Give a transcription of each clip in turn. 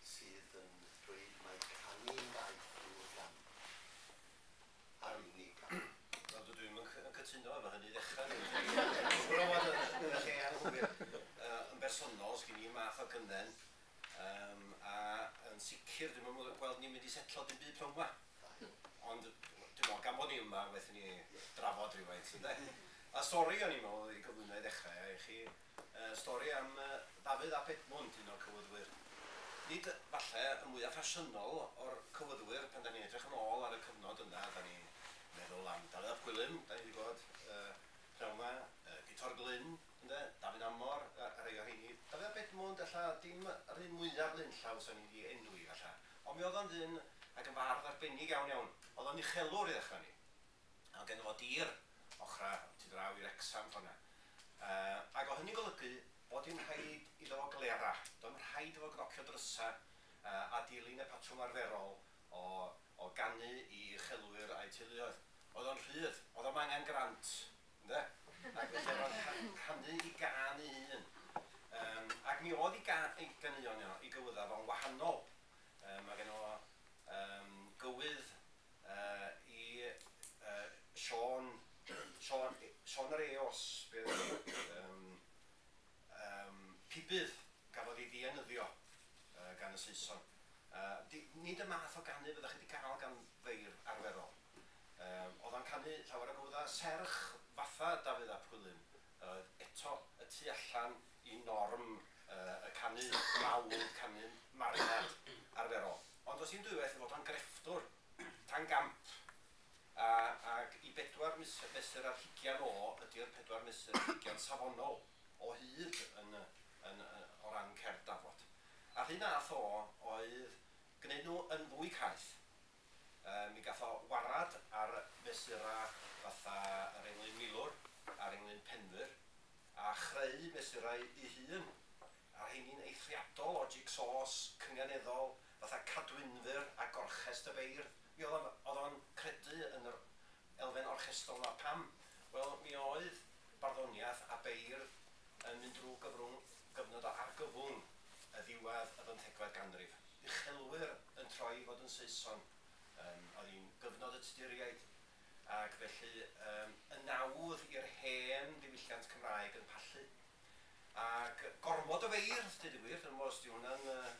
sydd yn dweud mai canu yn ddaeth drwy'r gân, a'r unig gân. Wel, dydw i ddim yn cytuno efo hynny i ddechrau efo hynny. Wel, mae hynny yn y lle anghywir. Yn bersonol, sgin i 'im math o gynnen, yym, a yn sicr dwi'm yn gweld ni'n mynd i setlo dim byd p'nawn 'ma. Ond, dwi'n meddwl, gan bod ni yma, waeth i ni drafod rywfaint, ynde? A stori o'n i'n meddwl i gyflwyno i ddechrau, a i chi, Stori am Dafydd ap Edmwnd, un o'r cywyddwyr. Nid falle y mwyaf ffasiynol o'r cywyddwyr pan 'dan ni'n edrych yn ôl ar y cyfnod yna, 'dan ni'n meddwl am Dafydd ap Gwilym, 'dan ni 'di gweld y pnawn 'ma, Guto'r Glyn, ynde, Dafydd Amor a rhei o rheini. Dafydd ap Edmwnd ella dim yr un mwyaf blaenllaw fysa ni 'di enwi falla, ond mi o'dd o'n ddyn ag yn fardd arbennig iawn iawn. O'dd o'n uchelwr i ddechra' arni. Ond ganddo fo dir ochrau tu draw i Wrecsam fan 'na. Yy, ac o' hynny'n golygu bo' dim rhaid iddo fo glera. Do'm rhaid iddo fo gnocio drysa, yy, a dilyn y patrwm arferol o o ganu i uchelwyr a'u teuluoedd. Oedd o'n rhydd. Oedd o'm angen grant, ynde? Ac felly o'dd o'n rhan- rhannu 'i gân 'i hun. Yym, ac mi o'dd 'i ga- 'i ganeuon o, 'i gywyddau fo'n wahanol. Yy, ma' genno fo, yym, gywydd Yy i yy Siôn Siôn Siôn yr Eos be oedd enw fo? Yym yym Pibydd gafodd ei ddienyddio yy gan y Saeson. Yy di- nid y math o ganu fyddech chi 'di gael gan feirdd arferol. Yym o'dd o'n canu llawer o gnwdda serch fatha Dafydd ap Gwilym Oedd eto y tu allan i norm y canu mawl, canu marchnad arferol. Ond does dim dwywaith ei fod o'n grefftwr tan gamp. A ac i bedwar mis- fesur ar hugian o ydi'r pedwar mesur ar hugian safonol o hyd yn y yn y o ran cerdd dafod. A'r hyn a ath o oedd gwneud nhw yn fwy caeth. Yy mi gath o warad ar mesura fatha yr englyn milwr a'r englyn penfur, a chreu mesurau 'i hun, a rheini'n eithriadol o jig-saws cynganeddol fatha cadwynfur a gorchest y beirdd. Mi oedd o oedd o'n credu yn yr elfen orchestral 'na pam? Wel, mi oedd barddoniaeth a beirdd yn mynd drw gyfrwng gyfnod o argyfwng y ddiwedd y bymthegfed ganrif. Uchelwyr yn troi i fod yn Saeson. Yym, oedd hi'n gyfnod y Tuduriaid, ac felly yym y nawdd i'r hen ddiwylliant Cymraeg yn pallu. Ac gormod o feirdd, deud y gwir, dwi'm yn gwybod os ydy hwnna'n yy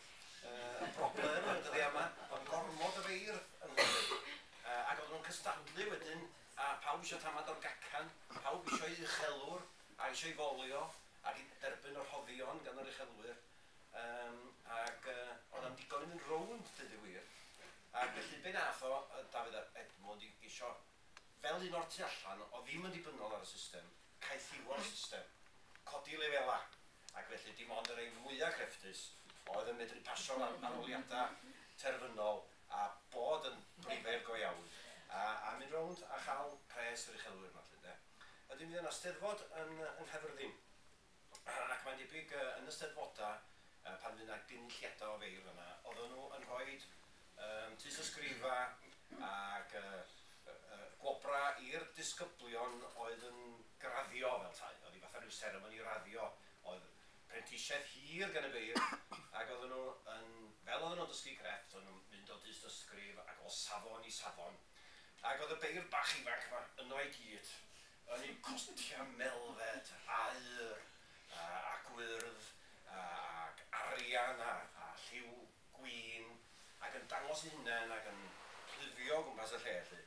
yy broblem yn y dyddiau yma, ond gormod o feirdd yng Nghymru. Yy ac oedden nhw'n cystadlu wedyn, a pawb isio tamad o'r gacan, pawb isio eu uchelwr, Mae eisiau ei folio ac i dderbyn y rhoddion gan yr uchelwyr yym ac yy oedd na'm digon i mynd rownd deud y gwir ac felly be nath o yy Dafydd a Edmwnd i isio fel un o'r tu allan oedd ddim yn dibynnol ar y system caethiwo'r system codi lefelau ac felly dim ond y rei mwya crefftus oedd yn medru pasio lan arholiada terfynol a bod yn brifeidd go iawn a a mynd rownd a cha'l pres yr uchelwyr ma lly ynde. Ydyn ni yn y Steddfod yn Nghaerfyrddin ac mae'n debyg yn y Steddfodau pan fydd yna gynulliadau o feirdd yna oedden nhw yn rhoi tus ysgrifau ac gwobrau i'r disgyblion oedd yn graddio fel 'tai. Oedd hi fatha rhyw seremoni raddio. Oedd prentisiaeth hir gan y beirdd ac oedden nhw yn... fel oedden nhw'n dysgu crefft oedden nhw'n mynd o dust ysgrif ac o safon i safon Ac oedd y beirdd bach ifanc 'ma yno i gyd, yn eu costiau melfed aur a gwyrdd ac arian a lliw gwin, ac yn dangos eu hunain ac yn plifio o gwmpas y lle 'lly.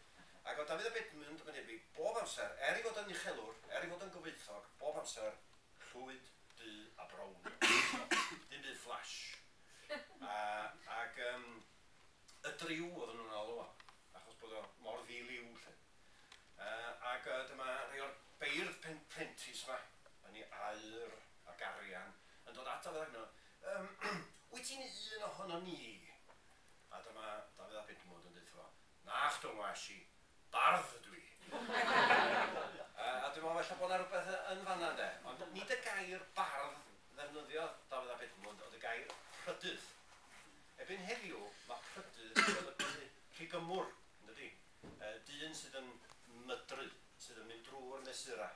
Ac oedd Dafydd ap Edmund, mae'n debyg, bob amser, er ei fod yn uchelwr, er ei fod yn gyfoethog, bob amser, llwyd, du a brown, dim byd flash. Ac yym. y driw odden nhw'n alw o, achos bod o mor ddi-liw 'lly. Yy ag yy dyma rhei o'r beirdd pen- prentis 'ma yn 'u aur ac arian yn dod at Dafydd ag yn meddwl, Yym, wyt ti'n un ohonon ni? A dyma Dafydd ap Edmwnd yn deutho fo, Nachdwn, ngwashi, Bardd ydw i. A dwi'n meddwl falla bod 'na rywbeth yn fan'na ynde? Ond nid y gair 'bardd' ddefnyddiodd Dafydd ap Edmund, ond y gair 'prydydd'. Erbyn heddiw, mae prydydd yn golygu rhigymwr, yndydi? Dyn sydd yn mydru, sydd yn mynd drwy'r mesurau.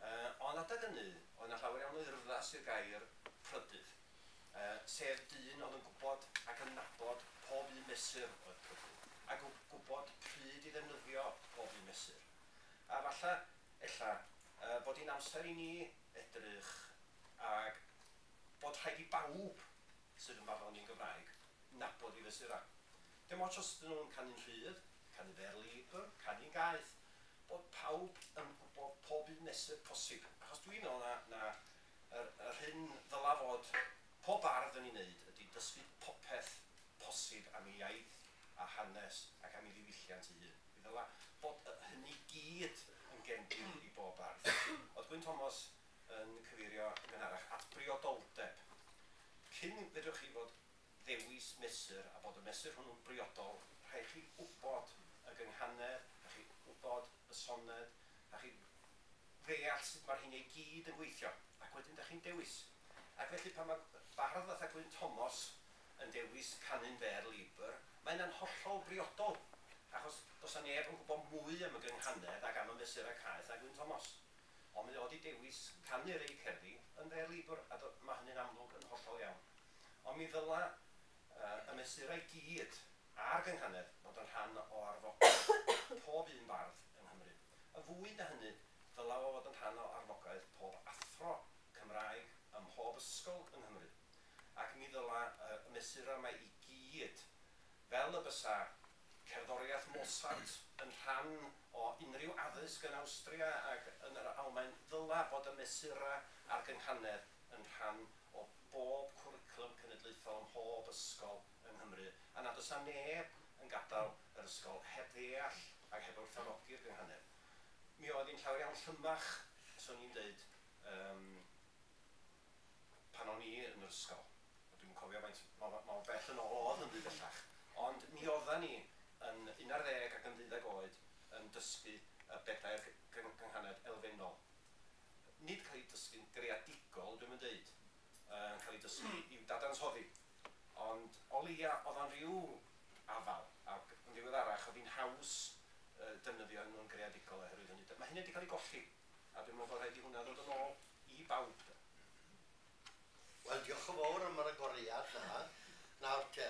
Yy, ond adag ynny, oedd 'na llawer iawn o urddas i'r gair 'prydydd', yy, sef dyn oedd yn gwybod ac yn nabod pob un mesur oedd prydydd, a gw- gwybod pryd i ddefnyddio pob un mesur. A falla, ella, yy, bod hi'n amser i ni edrych ag bod rhaid i bawb sydd yn barddoni'n Gymraeg, nabod ei fesurau. Dim ots os ydyn nhw'n canu'n rhydd, canu vers libre, canu'n gaeth, bod pawb yn gwybod pob un mesur posib. Achos dwi'n meddwl na, na, yr, yr hyn ddylai fod pob bardd yn ei wneud ydy dysgu popeth posib am ei iaith a hanes ac am ei ddiwylliant ei hun. Mi ddylai bod hynny i gyd yn gefndir i bob bardd. Oedd Gwyn Thomas yn cyfeirio yn gynharach at briodoldeb. Cyn fedrwch chi fod ddewis mesur a bod y mesur hwnnw'n briodol, rhaid chi wybod y gynghanedd, rhaid chi wybod y soned, rhaid chi ddeall sut mae'r rheiny i gyd yn gweithio, ac wedyn dach chi'n dewis. Ac felly pan mae bardd fatha Gwyn Thomas yn dewis canu'n Fair Labour, mae hynna'n hollol briodol, achos does 'na neb yn gwybod mwy am y gynghanedd ac am y mesurau caeth na Gwyn Thomas. ond mae o 'di dewis canu rei cerddi yn Their Labour a do- ma' hynny'n amlwg yn hollol iawn. Ond mi ddyla yy y mesurau i gyd, a'r gynghanedd, fod yn rhan o arfogaeth pob un bardd yng Nghymru. Yn fwy na hynny, ddyla fo fod yn rhan o arfogaeth pob athro Cymraeg ym mhob ysgol yng Nghymru. Ac mi ddyla yy y mesurau 'ma i gyd, fel y bysa Cerddoriaeth Mozart yn rhan o unrhyw addysg yn Awstria ac yn yr Almaen, ddylai fod y mesurau a'r gynghanedd yn rhan o bob cwricwlwm cenedlaethol ym mhob ysgol yng Nghymru, a nad oes 'na neb yn gadael yr ysgol heb ddeall ac heb wrthfawrogi'r gynghanedd. Mi oedd hi'n llawer iawn llymach, 'swn i'n deud, yym, pan o'n i yn yr ysgol, a dwi'm yn cofio faint mor mor bell yn ôl o'dd hynny bellach, ond mi oddan ni yn un ar ddeg ac yn ddeuddeg oed yn dysgu y bedair gyng- gynghanedd elfennol. Nid cael eu dysgu'n greadigol, dwi'm yn deud, yn cael eu dysgu i'w dadansoddi, ond o leia' o'dd o'n ryw afal, ac yn ddiweddarach o'dd hi'n haws yy defnyddio nhw'n greadigol oherwydd hynny. D- ma' hynny 'di cael ei golli. a dwi'n meddwl bod rhaid i hwnna ddod yn ôl i bawb de. Wel, diolch yn fawr am yr agoriad 'na. Nawr te,